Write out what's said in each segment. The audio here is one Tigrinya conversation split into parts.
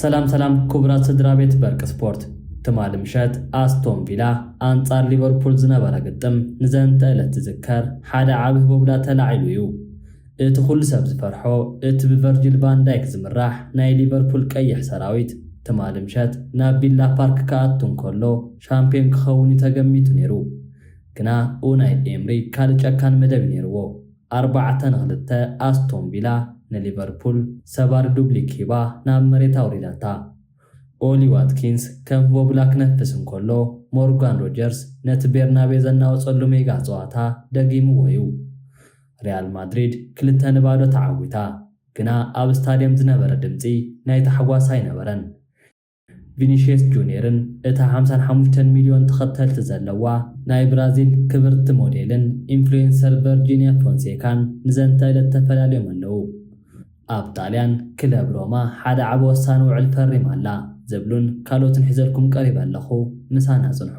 ሰላም ሰላም ክቡራት ስድራ ቤት በርቂ ስፖርት ትማሊ ምሸት ኣስቶን ቪላ ኣንጻር ሊቨርፑል ዝነበረ ግጥም ንዘንተ ዕለት ዝዝከር ሓደ ዓብ ህቦብላ ተላዒሉ እዩ እቲ ኩሉ ሰብ ዝፈርሖ እቲ ብቨርጂል ቫን ዳይክ ዝምራሕ ናይ ሊቨርፑል ቀይሕ ሰራዊት ትማሊ ምሸት ናብ ቪላ ፓርክ ክኣቱ እንከሎ ሻምፕዮን ክኸውን'ዩ ተገሚቱ ነይሩ። ግና ኡናይ ኤምሪ ካልእ ጨካን መደብ'ዩ ነይርዎ። ኣርባዕተ ን ክልተ ኣስቶን ቪላ ንሊቨርፑል ሰባሪ ዱብሊክ ሂባ ናብ መሬት ኣውሪዳታ። ኦሊ ዋትኪንስ ከም ህቦብላ ክነፍስ እንከሎ ሞርጋን ሮጀርስ ነቲ ቤርናቤ ዘናወጸሉ ሜጋ ጸዋታ ደጊምዎ'ዩ። ሪያል ማድሪድ ክልተ ን ባዶ ተዓዊታ ግና ኣብ ስታድየም ዝነበረ ድምጺ ናይ ታሕጓስ ኣይነበረን። ቪኒሽየስ ጁንየርን እታ ሓምሳን ሓሙሽተን ሚልዮን ተኸተልቲ ዘለዋ ናይ ብራዚል ክብርቲ ሞዴልን ኢንፍሉዌንሰር ቨርጂንያ ፎንሴካን ንዘንተ እለት ተፈላልዮም ኣለዉ። ኣብ ጣልያን ክለብ ሮማ ሓደ ዓቢ ወሳኒ ውዕል ፈሪማ ኣላ ዝብሉን ካልኦትን ሒዘልኩም ቀሪበ ኣለኹ ምሳና ጽንሑ።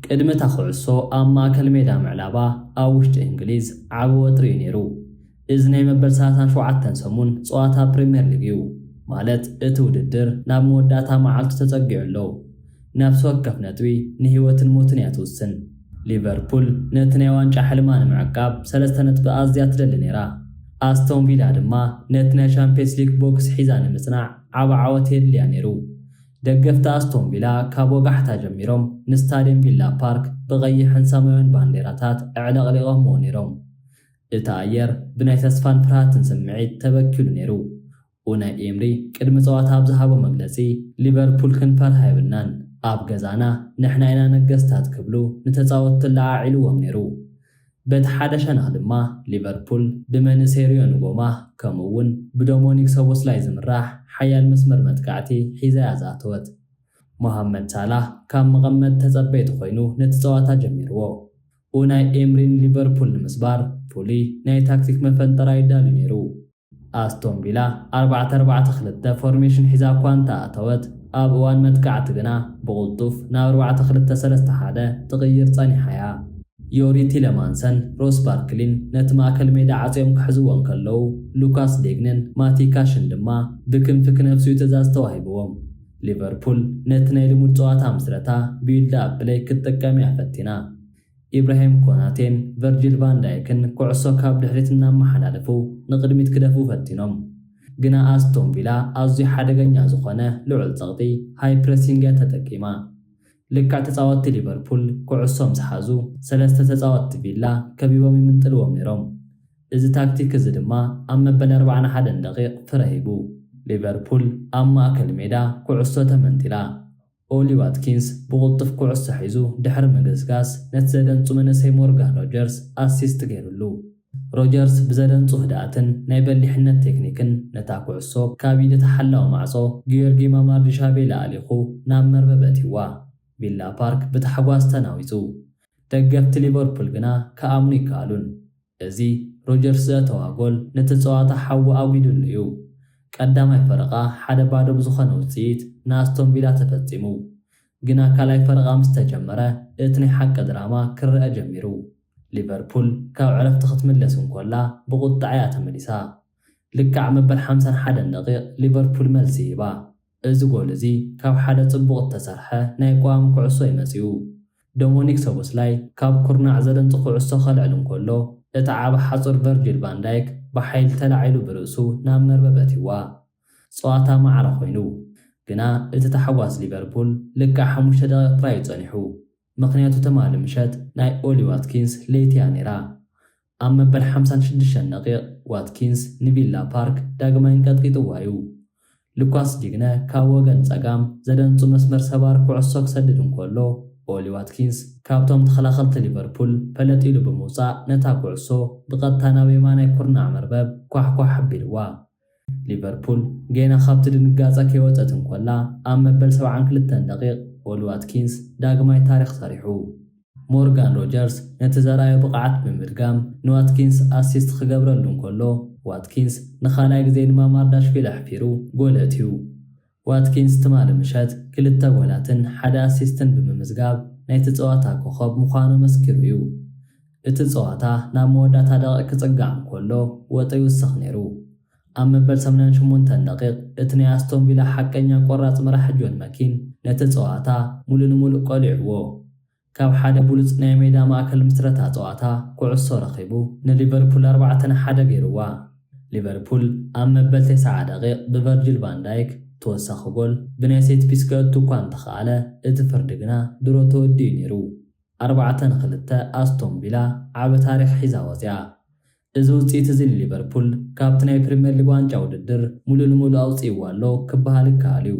ቅድሚ እታ ኹዕሶ ኣብ ማእከል ሜዳ ምዕላባ ኣብ ውሽጢ እንግሊዝ ዓቢ ወጥሪ እዩ ነይሩ። እዚ ናይ መበል ሰላሳን ሸውዓተን ሰሙን ጸዋታ ፕሪምየር ሊግ እዩ፣ ማለት እቲ ውድድር ናብ መወዳእታ መዓልቱ ተጸጊዑ ኣሎ። ነፍሲ ወከፍ ነጥቢ ንህይወትን ሞትን እያ ትውስን። ሊቨርፑል ነቲ ናይ ዋንጫ ሕልማ ንምዕቃብ ሰለስተ ነጥቢ ኣዝያ ትደሊ ነይራ። ኣስቶን ቪላ ድማ ነቲ ናይ ሻምፕዮንስ ሊግ ቦክስ ሒዛ ንምጽናዕ ዓቢ ዓወት የድልያ ነይሩ። ደገፍቲ ኣስቶን ቪላ ካብ ወጋሕታ ጀሚሮም ንስታድየም ቪላ ፓርክ ብቐይሕን ሰማያዊን ባንዴራታት ኣዕለቕሊቖምዎ ነይሮም። እቲ ኣየር ብናይ ተስፋን ፍርሃትን ስምዒት ተበኪሉ ነይሩ። ኡናይ ኤምሪ ቅድሚ ጸዋታ ኣብ ዝሃቦ መግለጺ፣ ሊቨርፑል ክንፈርሃ የብልናን፣ ኣብ ገዛና ንሕና ኢና ነገስታት ክብሉ ንተጻወትቲ ኣለዓዒልዎም ነይሩ። በቲ ሓደ ሸነኽ ድማ ሊቨርፑል ብመንእሰይሪዮ ንጎማ ከምኡ'ውን ብዶሞኒክ ሶቦስላይ ዝምራሕ ሓያል መስመር መጥቃዕቲ ሒዛ'ያ ዝኣተወት። ሞሃመድ ሳላህ ካብ መቐመጢ ተጸበይቲ ኮይኑ ነቲ ጸዋታ ጀሚርዎ። ኡናይ ኤምሪ ንሊቨርፑል ንምስባር ፍሉይ ናይ ታክቲክ መፈንጠራ ኣዩ ኣዳልዩ ነይሩ። ኣስቶን ቪላ ኣርባዕተ ኣርባዕተ ክልተ ፎርሜሽን ሒዛ እኳ እንተኣተወት፣ ኣብ እዋን መጥቃዕቲ ግና ብቕልጡፍ ናብ ኣርባዕተ ክልተ ሰለስተ ሓደ ትቕይር ጸኒሓ እያ። ዮሪ ቲለማንሰን ሮስ ባርክሊን ነቲ ማእከል ሜዳ ዓጽዮም ክሕዝዎ እንከለዉ፣ ሉካስ ዴግንን ማቲ ካሽን ድማ ብክንፊ ክነብሱ'ዩ ትእዛዝ ተዋሂብዎም። ሊቨርፑል ነቲ ናይ ልሙድ ጸዋታ ምስረታ፣ ቢዩልድ ኣፕ ፕለይ፣ ክትጥቀም'ያ ፈቲና። ኢብራሂም ኮናቴን ቨርጂል ቫን ዳይክን ኩዕሶ ካብ ድሕሪት እናመሓላለፉ ንቕድሚት ክደፍኡ ፈቲኖም፣ ግና ኣስቶን ቪላ ኣዝዩ ሓደገኛ ዝኾነ ልዑል ጸቕጢ፣ ሃይ ፕረሲንግ፣ እያ ተጠቂማ። ልክዕ ተጻወትቲ ሊቨርፑል ኩዕሶ ምስ ሓዙ፣ ሰለስተ ተጻወትቲ ቪላ ከቢቦም ይምንጥልዎም ነይሮም። እዚ ታክቲክ እዚ ድማ ኣብ መበል ኣርባዓን ሓደን ደቒቕ ፍረ ሂቡ። ሊቨርፑል ኣብ ማእከል ሜዳ ኩዕሶ ተመንጢላ። ኦሊ ዋትኪንስ ብቕልጡፍ ኩዕሶ ሒዙ ድሕሪ ምግስጋስ፣ ነቲ ዘደንጹ መንእሰይ ሞርጋን ሮጀርስ ኣሲስት ገይሩሉ። ሮጀርስ ብዘደንጹ ህድኣትን ናይ በሊሕነት ቴክኒክን ነታ ኩዕሶ ካብ ኢድ እቲ ሓላዊ ማዕጾ ጊዮርጊ ማማርዲሻቬሊ ኣሊኹ ናብ መርበብ ኣእትዩዋ። ቪላ ፓርክ ብታሕጓስ ተናዊጹ። ደገፍቲ ሊቨርፑል ግና ክኣምኑ ኣይከኣሉን። እዚ ሮጀርስ ዘእተዋ ጎል ነቲ ጸዋታ ሓዊ ኣጒዱሉ እዩ። ቀዳማይ ፈረቓ ሓደ ባዶ ብዝኾነ ውጽኢት ንኣስቶን ቪላ ተፈጺሙ። ግና ካልኣይ ፈረቓ ምስ ተጀመረ እቲ ናይ ሓቂ ድራማ ክረኣ ጀሚሩ። ሊቨርፑል ካብ ዕረፍቲ ክትምለስ እንኮላ ብቑጥዐ እያ ተመሊሳ። ልክዕ መበል ሓምሳን ሓደን ደቒቕ ሊቨርፑል መልሲ ሂባ። እዚ ጎል እዚ ካብ ሓደ ጽቡቕ እተሰርሐ ናይ ቅዋም ኩዕሶ እዩ መጺኡ። ዶሞኒክ ሶቦስላይ ካብ ኩርናዕ ዘደንጹ ኩዕሶ ከልዕል እንከሎ፣ እቲ ዓቢ ሓጹር ቨርጂል ቫን ዳይክ ብሓይሊ ተላዒሉ ብርእሱ ናብ መርበብ ኣትዩዋ። ጸዋታ ማዕረ ኮይኑ። ግና እቲ ታሕጓስ ሊቨርፑል ልክዕ ሓሙሽተ ደቒቕ ጥራይ እዩ ጸኒሑ። ምኽንያቱ ትማሊ ምሸት ናይ ኦሊ ዋትኪንስ ለይቲ እያ ነይራ። ኣብ መበል ሓምሳን ሽዱሽተን ደቒቕ ዋትኪንስ ንቪላ ፓርክ ዳግማይ ኣንቀጥቂጥዋ'ዩ። ሉካስ ዲግነ ካብ ወገን ጸጋም ዘደንጹ መስመር ሰባር ኩዕሶ ክሰድድ እንከሎ፣ ኦሊ ዋትኪንስ ካብቶም ተኸላኸልቲ ሊቨርፑል ፈለጥ ኢሉ ብምውጻእ ነታ ኩዕሶ ብቐጥታ ናብ የማናይ ኩርናዕ መርበብ ኳሕኳሕ ኣቢልዋ። ሊቨርፑል ጌና ካብቲ ድንጋጸ ከይወጸት እንኮላ ኣብ መበል ሰብዓን ክልተን ደቒቕ ኦሊ ዋትኪንስ ዳግማይ ታሪኽ ሰሪሑ። ሞርጋን ሮጀርስ ነቲ ዘርኣዮ ብቕዓት ብምድጋም ንዋትኪንስ ኣሲስት ክገብረሉ እንከሎ ዋትኪንስ ንኻልኣይ ግዜ ንማማርዳሽቪሊ ኣሕፊሩ ጎል ኣእትዩ። ዋትኪንስ ትማሊ ምሸት ክልተ ጎላትን ሓደ ኣሲስትን ብምምዝጋብ ናይቲ ጸዋታ ኮኾብ ምዃኑ ኣመስኪሩ እዩ። እቲ ጸዋታ ናብ መወዳእታ ደቒቕ ክጽጋዕ እንከሎ ወጠ ይውስኽ ነይሩ። ኣብ መበል ሰማንያን ሸሞንተን ደቒቕ እቲ ናይ ኣስቶን ቪላ ሓቀኛ ቆራጽ መራሒ ጆን መኪን ነቲ ጸዋታ ምሉእ ንምሉእ ቀሊዑዎ። ካብ ሓደ ብሉጽ ናይ ሜዳ ማእከል ምስረታ ጸዋታ ኩዕሶ ረኺቡ ንሊቨርፑል ኣርባዕተ ን ሓደ ገይሩዋ። ሊቨርፑል ኣብ መበል ተስዓ ደቒቕ ብቨርጂል ቫን ዳይክ ተወሳኺ ጎል ብናይ ሴት ፒስ ከእቱ እኳ እንተኽኣለ እቲ ፍርዲ ግና ድሮ ተወዲኡ ነይሩ። ኣርባዕተ ን ክልተ ኣስቶን ቪላ ዓቢ ታሪኽ ሒዛ ወጺኣ። እዚ ውጽኢት'ዚ ንሊቨርፑል ካብቲ ናይ ፕሪምየር ሊግ ዋንጫ ውድድር ምሉእ ንምሉእ ኣውጺእዎ ኣሎ ክበሃል ይከኣል'ዩ።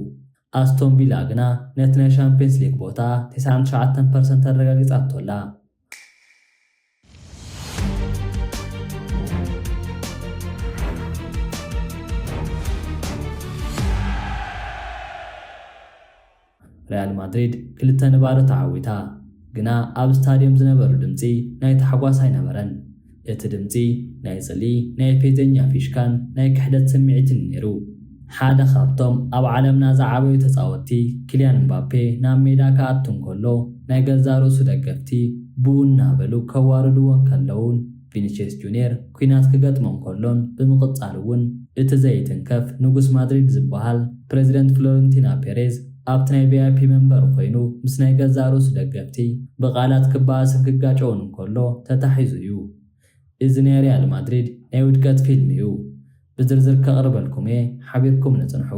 ኣስቶን ቪላ ግና ነቲ ናይ ሻምፕዮንስ ሊግ ቦታ ተስዓን ትሽዓተን ፐርሰንት ኣረጋጊጻቶ ኣላ። ሪያል ማድሪድ ክልተ ንባዶ ተዓዊታ፣ ግና ኣብ ስታድዮም ዝነበሩ ድምጺ ናይ ታሕጓስ ኣይነበረን። እቲ ድምጺ ናይ ጽልኢ፣ ናይ ፌዘኛ ፊሽካን ናይ ክሕደት ስምዒትን'ዩ ነይሩ። ሓደ ካብቶም ኣብ ዓለምና ዝዓበዩ ተጻወትቲ ኪልያን ምባፔ ናብ ሜዳ ክኣቱ እንከሎ፣ ናይ ገዛእ ርእሱ ደገፍቲ ቡኡ እናበሉ ከዋርድዎ እንከለዉን፣ ቪኒቼስ ጁንየር ኲናት ክገጥሞ እንከሎን ብምቕጻል እውን እቲ ዘይትንከፍ ንጉስ ማድሪድ ዝበሃል ፕረዚደንት ፍሎረንቲና ፔሬዝ ኣብቲ ናይ ቪኣይፒ መንበሩ ኮይኑ ምስ ናይ ገዛእ ርእሱ ደገፍቲ ብቓላት ክበኣስን ክጋጨውን እንከሎ ተታሒዙ እዩ። እዚ ናይ ሪያል ማድሪድ ናይ ውድቀት ፊልም እዩ። ብዝርዝር ከቕርበልኩም እየ ሓቢርኩምኒ ጽንሑ።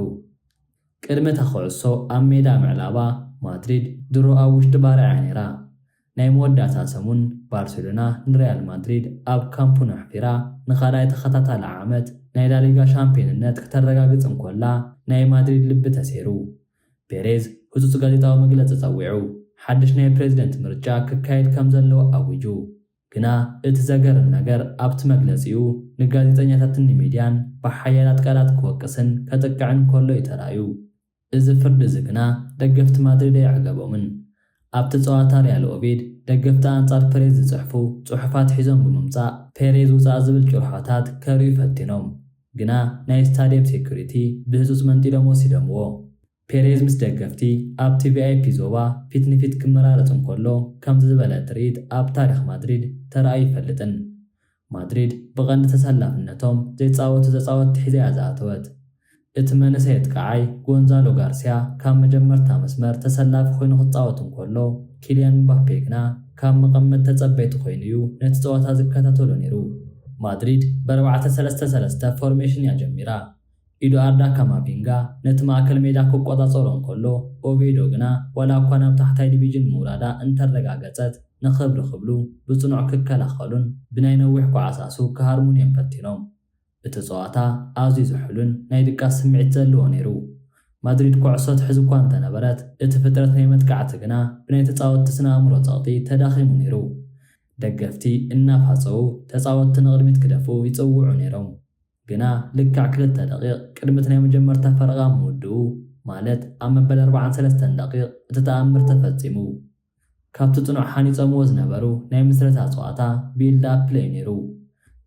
ቅድሚ እታ ኩዕሶ ኣብ ሜዳ ምዕላባ ማድሪድ ድሮ ኣብ ውሽጢ ባርዕ እያ ነይራ። ናይ መወዳእታ ሰሙን ባርሴሎና ንሪያል ማድሪድ ኣብ ካምፕኑ ኣሕፊራ ንኻልኣይ ተኸታታሊ ዓመት ናይ ላሊጋ ሻምፕዮንነት ክተረጋግጽ እንኮላ ናይ ማድሪድ ልቢ ተሰይሩ። ፔሬዝ ህጹጽ ጋዜጣዊ መግለጺ ጸዊዑ ሓድሽ ናይ ፕሬዚደንት ምርጫ ክካየድ ከምዘለዎ ኣዊጁ። ግና እቲ ዘገርም ነገር ኣብቲ መግለጺኡ ንጋዜጠኛታትን ንሚድያን ብሓያላት ቃላት ክወቅስን ከጥቅዕን ከሎ እዩ ተራእዩ። እዚ ፍርዲ እዚ ግና ደገፍቲ ማድሪድ ኣይዕገቦምን። ኣብቲ ጸዋታ ሪያል ኦቪድ ደገፍቲ ኣንጻር ፐሬዝ ዝጽሕፉ ጽሑፋት ሒዞም ብምምጻእ ፔሬዝ ውጻእ ዝብል ጭርሖታት ከርእዩ ፈቲኖም ግና ናይ ስታድየም ሴኩሪቲ ብህጹጽ መንጢሎም ወሲዶምዎ። ፔሬዝ ምስ ደገፍቲ ኣብቲ ቪኣይፒ ዞባ ፊት ንፊት ክመራረጽ እንከሎ ከምዚ ዝበለ ትርኢት ኣብ ታሪኽ ማድሪድ ተራእዩ ኣይፈልጥን። ማድሪድ ብቐንዲ ተሰላፍነቶም ዘይጻወቱ ተጻወትቲ ሒዛ'ያ ዝኣተወት። እቲ መንእሰይ ኣጥቃዓይ ጎንዛሎ ጋርስያ ካብ መጀመርታ መስመር ተሰላፊ ኮይኑ ክጻወት እንከሎ፣ ኪልያን ምባፔ ግና ካብ መቐመጢ ተጸበይቲ ኮይኑ'ዩ ነቲ ጸወታ ዝከታተሎ ነይሩ። ማድሪድ ብኣርባዕተ ሰለስተ ሰለስተ ፎርሜሽን'ያ ጀሚራ። ኢዱኣርዳ ካማቪንጋ ነቲ ማእከል ሜዳ ክቆጻጸሮ እንከሎ፣ ኦቬዶ ግና ዋላ'ኳ ናብ ታሕታይ ዲቪጅን ምውራዳ እንተረጋገጸት፣ ንኽብሪ ክብሉ ብጽኑዕ ክከላኸሉን ብናይ ነዊሕ ኳዕሳሱ ክሃርሙን እዮም ፈቲኖም። እቲ ጸዋታ ኣዝዩ ዝሑልን ናይ ድቃስ ስምዒት ዘለዎ ነይሩ። ማድሪድ ኮዕሶ ትሕዝ'ኳ እንተነበረት፣ እቲ ፍጥረት ናይ መጥቃዕቲ ግና ብናይ ተጻወትቲ ስነ-ኣእምሮ ጸቕጢ ተዳኺሙ ነይሩ። ደገፍቲ እናፋጸዉ ተጻወትቲ ንቕድሚት ክደፍኡ ይጽውዑ ነይሮም። ግና ልክዕ ክልተ ደቒቕ ቅድሚ'ቲ ናይ መጀመርታ ፈረቓ ምውድኡ፣ ማለት ኣብ መበል ኣርብዓን ሰለስተን ደቒቕ፣ እቲ ተኣምር ተፈጺሙ። ካብቲ ጽኑዕ ሃኒጾምዎ ዝነበሩ ናይ ምስረታ ጸዋታ ቢልድ ኣፕ ፕለይ ነይሩ።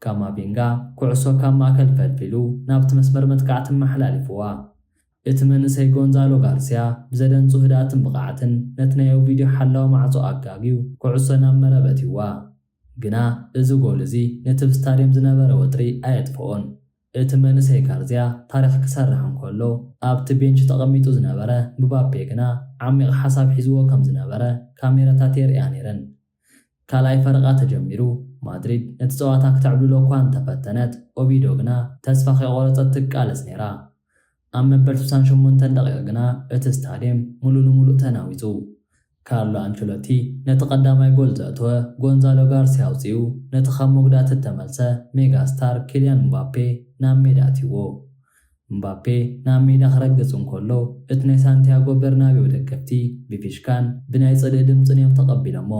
ካማቪንጋ ኩዕሶ ካብ ማእከል ፈልፊሉ ናብቲ መስመር መጥቃዕቲ ኣመሓላሊፉዋ። እቲ መንእሰይ ጎንዛሎ ጋርስያ ብዘደንጹ ህድኣትን ብቕዓትን ነቲ ናይ ኦቪድዮ ሓላዊ ማዕጾ ኣጋግዩ ኩዕሶ ናብ መረብ ኣእትዩዋ። ግና እዚ ጎል እዚ ነቲ ብ ስታድየም ዝነበረ ወጥሪ ኣየጥፍኦን። እቲ መንእሰይ ጋርዝያ ታሪኽ ክሰርሕ እንከሎ ኣብቲ ቤንች ተቐሚጡ ዝነበረ ምባፔ ግና ዓሚቕ ሓሳብ ሒዝዎ ከም ዝነበረ ካሜራታት የርእያ ነይረን። ካልኣይ ፈረቓ ተጀሚሩ። ማድሪድ ነቲ ጸዋታ ክትዕብልሎ እኳ እንተፈተነት ኦቪዶ ግና ተስፋ ከይቖረጸት ትቃለስ ነይራ። ኣብ መበል ስሳን ሸሞንተን ደቒቕ ግና እቲ ስታድየም ምሉእ ንምሉእ ተናዊጹ። ካርሎ ኣንቸሎቲ ነቲ ቀዳማይ ጎል ዘእተወ ጎንዛሎ ጋርስያ ኣውጺኡ ነቲ ካብ መጉዳእቲ እተመልሰ ሜጋ ስታር ኪልያን ምባፔ ናብ ሜዳ ኣትዩዎ። ምባፔ ናብ ሜዳ ክረግጽ እንከሎ እቲ ናይ ሳንቲያጎ ቤርናቤው ደገፍቲ ብፊሽካን ብናይ ጽልኢ ድምጽን እዮም ተቐቢሎሞ።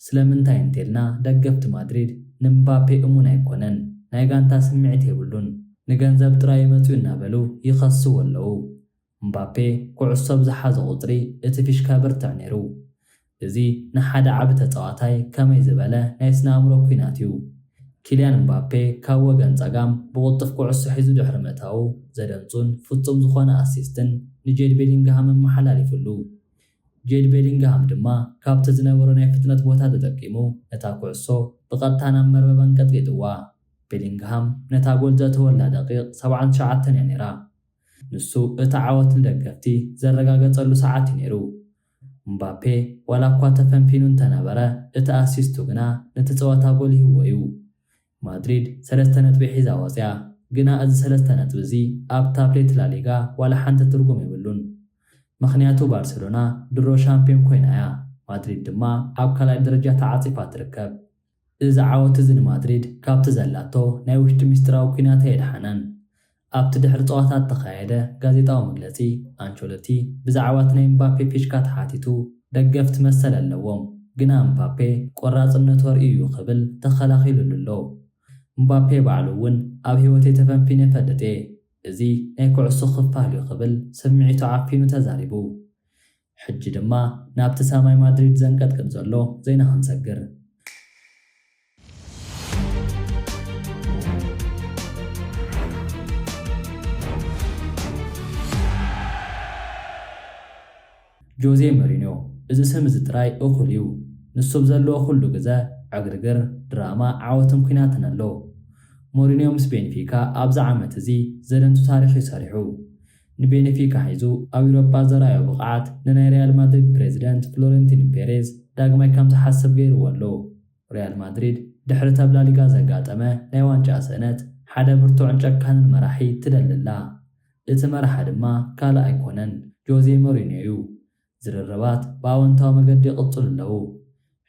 ስለምንታይ እንተልና ደገፍቲ ማድሪድ ንምባፔ እሙን ኣይኮነን ናይ ጋንታ ስምዒት የብሉን ንገንዘብ ጥራይ ዩ መጺኡ እናበሉ ይኸስዎ ኣለዉ ምባፔ ኩዕሶ ብ ዝሓዞ ቁጽሪ እቲ ፊሽካ የበርትዕ ኔሩ እዚ ንሓደ ዓቢ ተጻዋታይ ከመይ ዝበለ ናይ ስነ ኣእምሮ ኩናት ዩ ኪልያን ምባፔ ካብ ወገን ጸጋም ብቁልጡፍ ኩዕሶ ሒዙ ድሕሪ ምእታዉ ዘደንጹን ፍጹም ዝኾነ ኣሲስትን ንጄድ ቤሊንግሃም ኣመሓላሊፍሉ ጁድ ቤሊንግሃም ድማ ካብቲ ዝነበሮ ናይ ፍጥነት ቦታ ተጠቂሙ ነታ ኩዕሶ ብቐጥታ ናብ መርበብ ኣንቀጥቂጥዋ። ቤሊንግሃም ነታ ጎል ዘእተወላ ደቒቕ ሰብዓን ትሽዓተን እያ ነይራ። ንሱ እቲ ዓወት ንደገፍቲ ዘረጋገጸሉ ሰዓት እዩ ነይሩ። ምባፔ ዋላኳ ተፈንፊኑ እንተነበረ እቲ ኣሲስቱ ግና ነቲ ጸወታ ጎሊህዎ እዩ። ማድሪድ ሰለስተ ነጥቢ ሒዛ ወጺኣ፣ ግና እዚ ሰለስተ ነጥቢ እዚ ኣብ ታብሌት ላሊጋ ዋላ ሓንቲ ትርጉም የብሉን። ምኽንያቱ ባርሰሎና ድሮ ሻምፕዮን ኮይና እያ፣ ማድሪድ ድማ ኣብ ካልኣይ ደረጃ ተዓጺፋ ትርከብ። እዚ ዓወት እዚ ንማድሪድ ካብቲ ዘላቶ ናይ ውሽጢ ምስጢራዊ ኲናት ኣየድሓነን። ኣብቲ ድሕሪ ጸዋታ እተኻየደ ጋዜጣዊ መግለጺ፣ ኣንቸሎቲ ብዛዕባ እቲ ናይ እምባፔ ፊሽካ ተሓቲቱ፣ ደገፍቲ መሰል ኣለዎም፣ ግና እምባፔ ቈራጽነቱ ኣርእዩ እዩ ክብል ተኸላኺሉሉ ኣሎ። እምባፔ ባዕሉ እውን ኣብ ህይወተይ ተፈንፊነ እፈልጥ እየ፣ እዚ ናይ ኩዕሶ ክፋል እዩ ክብል ስምዒቱ ዓፊኑ ተዛሪቡ። ሕጂ ድማ ናብቲ ሰማይ ማድሪድ ዘንቀጥቅጥ ዘሎ ዜና ክንሰግር። ጆዜ መሪንዮ እዚ ስም እዚ ጥራይ እኹል እዩ። ንሱ ኣብ ዘለዎ ኩሉ ግዘ ዕግርግር፣ ድራማ፣ ዓወትን ኩናትን ኣሎ። ሞሪንዮ ምስ ቤንፊካ ኣብዚ ዓመት እዚ ዘደንቱ ታሪኽ እዩ ሰሪሑ። ንቤንፊካ ሒዙ ኣብ ዩሮጳ ዘርኣዮ ብቕዓት ንናይ ሪያል ማድሪድ ፕረዚደንት ፍሎረንቲን ፔሬዝ ዳግማይ ከም ዝሓስብ ገይርዎ ኣሎ። ሪያል ማድሪድ ድሕሪ እተብ ላሊጋ ዘጋጠመ ናይ ዋንጫ ስእነት ሓደ ብርቱዕን ጨካንን መራሒ ትደሊ ኣላ። እቲ መራሒ ድማ ካልእ ኣይኮነን ጆዜ ሞሪንዮ'ዩ። ዝርርባት ብኣወንታዊ መገዲ ይቕጽሉ ኣለዉ።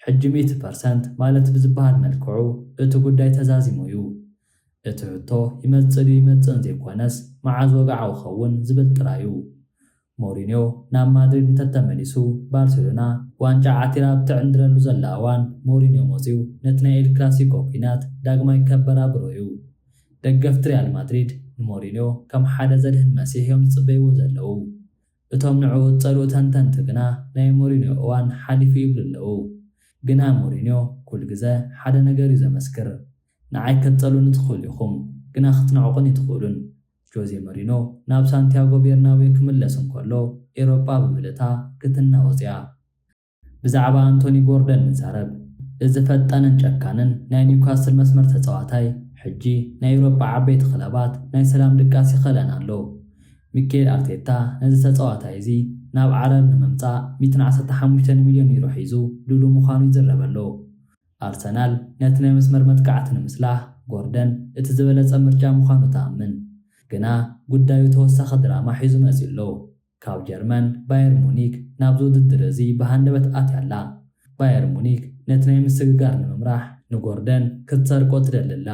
ሕጂ ሚእቲ ፐርሰንት ማለት ብዝበሃል መልክዑ እቲ ጉዳይ ተዛዚሙ እዩ። እቲ ሕቶ ይመጽእ ድዩ ኣይመጽእን ዘይኮነስ መዓዝ ወግዓዊ ክኸውን ዝብል ጥራይ እዩ። ሞሪንዮ ናብ ማድሪድ እንተተመሊሱ ባርሴሎና ዋንጫ ዓቲራ ኣብ እትዕንድረሉ ዘላ እዋን ሞሪንዮ መጺኡ ነቲ ናይ ኤል ክላሲኮ ኲናት ዳግማይ ከበራብሮ እዩ። ደገፍቲ ሪያል ማድሪድ ንሞሪንዮ ከም ሓደ ዘድሕን መሲሕ እዮም ዝጽበይዎ ዘለዉ። እቶም ንዕኡ ዝጸልኡ ተንተንቲ ግና ናይ ሞሪንዮ እዋን ሓሊፉ ይብሉ ኣለዉ። ግና ሞሪንዮ ኩል ግዘ ሓደ ነገር እዩ ዘመስክር ንዓይ ከትጸልኡኒ ትኽእሉ ኢኹም ግና ክትንዕቁኒ ኣይትኽእሉን። ጆዜ መሪኖ ናብ ሳንቲያጎ ቤርናቤው ክምለስ እንከሎ ኤሮጳ ብምልእታ ክትናወጽ እያ። ብዛዕባ ኣንቶኒ ጎርደን ንዛረብ። እዚ ፈጣንን ጨካንን ናይ ኒውካስል መስመር ተጻዋታይ ሕጂ ናይ ኤውሮጳ ዓበይቲ ክለባት ናይ ሰላም ድቃስ ይኸለን ኣሎ። ሚኬል ኣርቴታ ነዚ ተጻዋታይ እዚ ናብ ዓረር ንምምጻእ ሚእትን ዓሰርተ ሓሙሽተን ሚልዮን ዩሮ ሒዙ ድሉ ምዃኑ ይዝረበሎ። ኣርሰናል ነቲ ናይ መስመር መጥቃዕቲ ንምስላህ ጎርደን እቲ ዝበለጸ ምርጫ ምዃኑ ትኣምን። ግና ጉዳዩ ተወሳኺ ድራማ ሒዙ መጺኡ'ሎ። ካብ ጀርመን ባየር ሙኒክ ናብዚ ውድድር እዚ ብሃንደበት ኣትያ ኣላ። ባየር ሙኒክ ነቲ ናይ ምስግጋር ንምምራሕ ንጎርደን ክትሰርቆ ትደሊ ኣላ።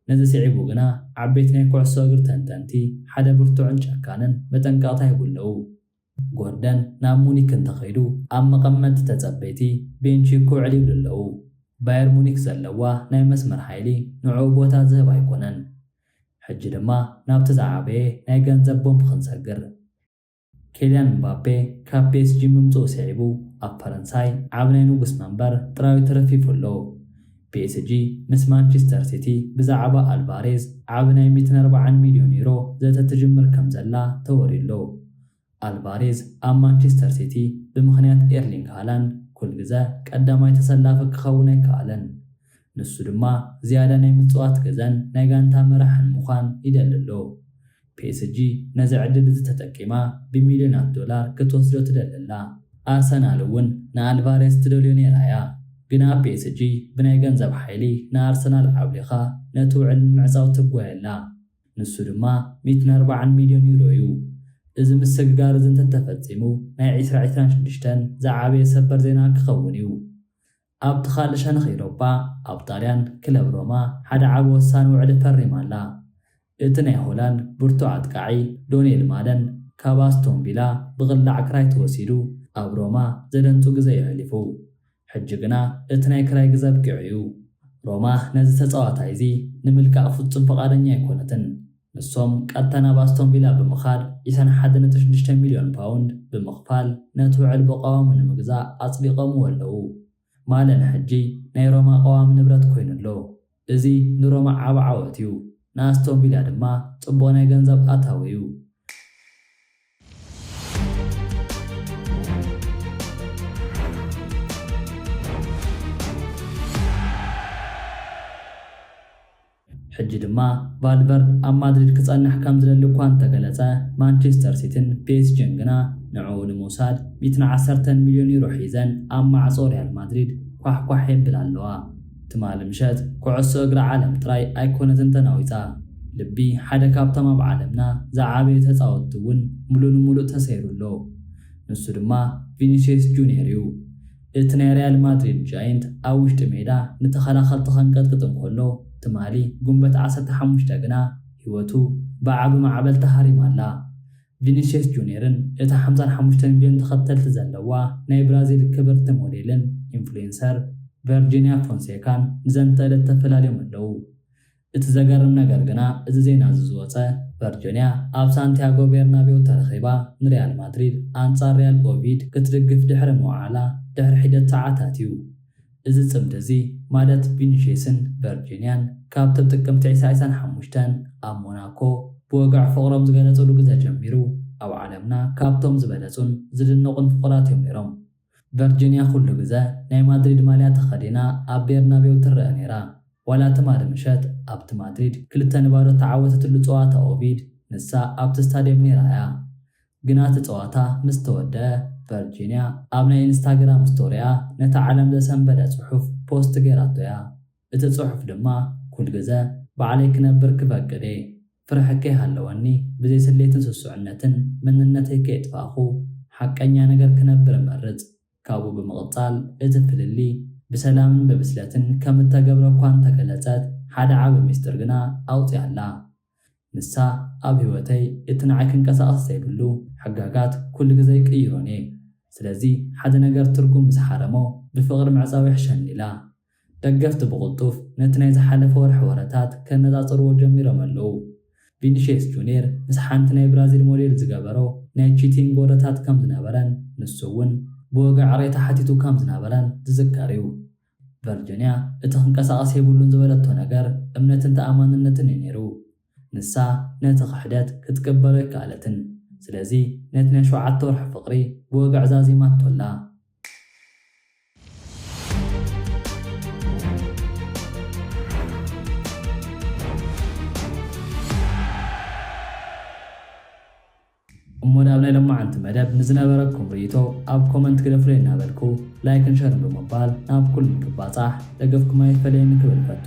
ነዚ ስዒቡ ግና ዓበይቲ ናይ ኩዕሶ እግሪ ተንተንቲ ሓደ ብርቱዕን ጨካንን መጠንቀቕታ ይህቡ ኣለዉ። ጎርደን ናብ ሙኒክ እንተኸይዱ ኣብ መቐመጢ ተጸበይቲ ቤንቺኩ ዕል ይብሉ ኣለዉ። ባየር ሙኒክ ዘለዋ ናይ መስመር ሓይሊ ንዕኡ ቦታ ዝህብ ኣይኮነን። ሕጂ ድማ ናብቲ ዝዓበየ ናይ ገንዘብ ቦምብ ክንሰግር። ኬልያን እምባፔ ካብ ፒኤስጂ ምምጽኡ ስዒቡ ኣብ ፈረንሳይ ዓቢ ናይ ንጉስ መንበር ጥራዩ ተረፊፉ ኣሎ። ፒኤስጂ ምስ ማንቸስተር ሲቲ ብዛዕባ ኣልቫሬዝ ዓቢ ናይ ሚእትን ኣርባዓን ሚልዮን ዩሮ ዘተ ትጅምር ከምዘላ ተወርዩ ኣሎ። ኣልቫሬዝ ኣብ ማንቸስተር ሲቲ ብምኽንያት ኤርሊንግ ሃላንድ ኩል ግዘ ቀዳማይ ተሰላፊ ክኸውን ኣይከኣለን። ንሱ ድማ ዝያዳ ናይ ምፅዋት ግዘን ናይ ጋንታ መራሕን ምዃን ይደሊ ኣሎ። ፒኤስጂ ነዚ ዕድል እዚ ተጠቂማ ብሚልዮናት ዶላር ክትወስዶ ትደሊ ኣላ። ኣርሰናል እውን ንኣልቫሬዝ ትደልዮ ነይራ እያ። ግን ኣብ ፒኤስጂ ብናይ ገንዘብ ሓይሊ ንኣርሰናል ዓብሊኻ ነቲ ውዕል ንምዕፃው ትጓየ ኣላ። ንሱ ድማ ሚእትን ኣርባዓን ሚልዮን ዩሮ እዩ። እዚ ምስግጋር እዚ እንተተፈጺሙ ናይ ዕስራ ዕስራን ሽዱሽተን ዝዓበየ ሰበር ዜና ክኸውን እዩ። ኣብቲ ካልእ ሸነኽ ኢሮፓ፣ ኣብ ጣልያን ክለብ ሮማ ሓደ ዓቢ ወሳኒ ውዕሊ ፈሪማ ኣላ። እቲ ናይ ሆላንድ ብርቱዕ ኣጥቃዒ ዶኔል ማለን ካብ ኣስቶን ቪላ ብቕላዕ ክራይ ተወሲዱ ኣብ ሮማ ዘደንጹ ግዘ እዩ ኣሕሊፉ። ሕጂ ግና እቲ ናይ ክራይ ግዜ ኣብቂዑ እዩ። ሮማ ነዚ ተጻዋታይ እዚ ንምልቃቕ ፍጹም ፍቓደኛ ኣይኮነትን። ንሶም ቀጥታ ናብ ኣስቶን ቪላ ብምኻድ ዒሰን ሓደ ነጥቢ ሽዱሽተ ሚልዮን ፓውንድ ብምኽፋል ነቲ ውዕል ብቐዋሙ ንምግዛእ ኣጽዲቐምዎ ኣለዉ። ማለን ሕጂ ናይ ሮማ ቀዋሚ ንብረት ኮይኑ ኣሎ። እዚ ንሮማ ዓቢ ዓወት'ዩ፣ ንኣስቶን ቪላ ድማ ጽቡቕ ናይ ገንዘብ ኣታዊ'ዩ። ሕጂ ድማ ቫልቨርድ ኣብ ማድሪድ ክጸንሕ ከም ዝደሊ እኳ እንተገለጸ፣ ማንቸስተር ሲቲን ፒኤስጂን ግና ንዕኡ ንምውሳድ ሚእትን ዓሰርተን ሚልዮን ዩሮ ሒዘን ኣብ ማዕጾ ሪያል ማድሪድ ኳሕኳሕ የብላ ኣለዋ። ትማሊ ምሸት ኩዕሶ እግሪ ዓለም ጥራይ ኣይኮነትን ተናዊጻ፣ ልቢ ሓደ ካብቶም ኣብ ዓለምና ዝዓበዩ ተጻወትቲ እውን ምሉእ ንምሉእ ተሰይሩ ኣሎ። ንሱ ድማ ቪኒስየስ ጁንየር እዩ። እቲ ናይ ሪያል ማድሪድ ጃይንት ኣብ ውሽጢ ሜዳ ንተኸላኸልቲ ከንቀጥቅጥ እንከሎ ትማሊ ጉንበት ዓሰርተ ሓሙሽተ ግና ህይወቱ ብዓቢ ማዕበል ተሃሪማ ኣላ። ቪኒስየስ ጁንየርን እታ ሓምሳን ሓሙሽተን ሚልዮን ተኸተልቲ ዘለዋ ናይ ብራዚል ክብርቲ ሞዴልን ኢንፍሉዌንሰር ቨርጂንያ ፎንሴካን ንዘንተ ዕለት ተፈላልዮም ኣለዉ። እቲ ዘገርም ነገር ግና እዚ ዜና እዚ ዝወጸ፣ ቨርጂንያ ኣብ ሳንቲያጎ ቤርናቤው ተረኺባ ንሪያል ማድሪድ ኣንጻር ሪያል ኦቪድ ክትድግፍ ድሕሪ ምውዓላ ድሕሪ ሒደት ሰዓታት እዩ። እዚ ጽምዲ እዚ ማለት ቪኒሽየስን ቨርጂንያን ካብቶም ጥቅምቲ ዒስራ ዒስራን ሓሙሽተን ኣብ ሞናኮ ብወግዒ ፍቕሮም ዝገለጽሉ ግዘ ጀሚሩ ኣብ ዓለምና ካብቶም ዝበለጹን ዝድነቑን ፍቑራት እዮም ነይሮም። ቨርጂንያ ኩሉ ግዘ ናይ ማድሪድ ማልያ ተኸዲና ኣብ ቤርናቤው ትረኣ ነይራ። ዋላ ትማሊ ምሸት ኣብቲ ማድሪድ ክልተ ንባዶ እተዓወተትሉ ጸዋታ ኦቪድ ንሳ ኣብቲ ስታድየም ነይራ እያ። ግና እቲ ጸዋታ ምስ ተወድኣ፣ ቨርጂንያ ኣብ ናይ ኢንስታግራም ስቶሪኣ ነቲ ዓለም ዘሰንበደ ጽሑፍ ፖስት ገይራቶ እያ። እቲ ጽሑፍ ድማ ኩል ግዘ ባዕለይ ክነብር ክፈቅድ እየ፣ ፍርሒ ከይሃለወኒ ብዘይ ስሌትን ስሱዕነትን መንነተይ ከየጥፋእኹ ሓቀኛ ነገር ክነብር እመርጽ። ካብኡ ብምቕጻል እቲ ፍልልይ ብሰላምን ብብስለትን ከም እተገብረ እኳ እንተገለጸት ሓደ ዓቢ ሚስጥር ግና ኣውጺኣ'ላ። ንሳ ኣብ ህይወተይ እቲ ንዓይ ክንቀሳቐስ ዘይብሉ ሕጋጋት ኩሉ ግዘ ይቅይሮን እየ ስለዚ ሓደ ነገር ትርጉም ምስ ሓረሞ ብፍቕሪ ምዕፃው ይሕሸኒ ኢላ። ደገፍቲ ብቕልጡፍ ነቲ ናይ ዝሓለፈ ወርሒ ወረታት ከነፃፅርዎ ጀሚሮም ኣለዉ። ቪኒሽየስ ጁንየር ምስ ሓንቲ ናይ ብራዚል ሞዴል ዝገበሮ ናይ ቺቲንግ ወረታት ከም ዝነበረን ንሱ እውን ብወግዒ ዕቕሬታ ሓቲቱ ከም ዝነበረን ዝዝከር እዩ። ቨርጆንያ እቲ ክንቀሳቐስ የብሉን ዝበለቶ ነገር እምነትን ተኣማንነትን እዩ ነይሩ። ንሳ ነቲ ክሕደት ክትቅበሎ ኣይከኣለትን። ስለዚ ነቲ ናይ ሸውዓተ ወርሒ ፍቕሪ ብወግዒ ዛዚማቶ ኣላ። እሞ ናብ ናይ ሎማዓንቲ መደብ ንዝነበረኩም ሪኢቶ ኣብ ኮመንት ግደፉለይ እናበልኩ ላይክን ሸርን ብምባል ናብ ኩሉ ንክባፃሕ ደገፍኩም ኣይፈለየኒ ክብል እፈቱ።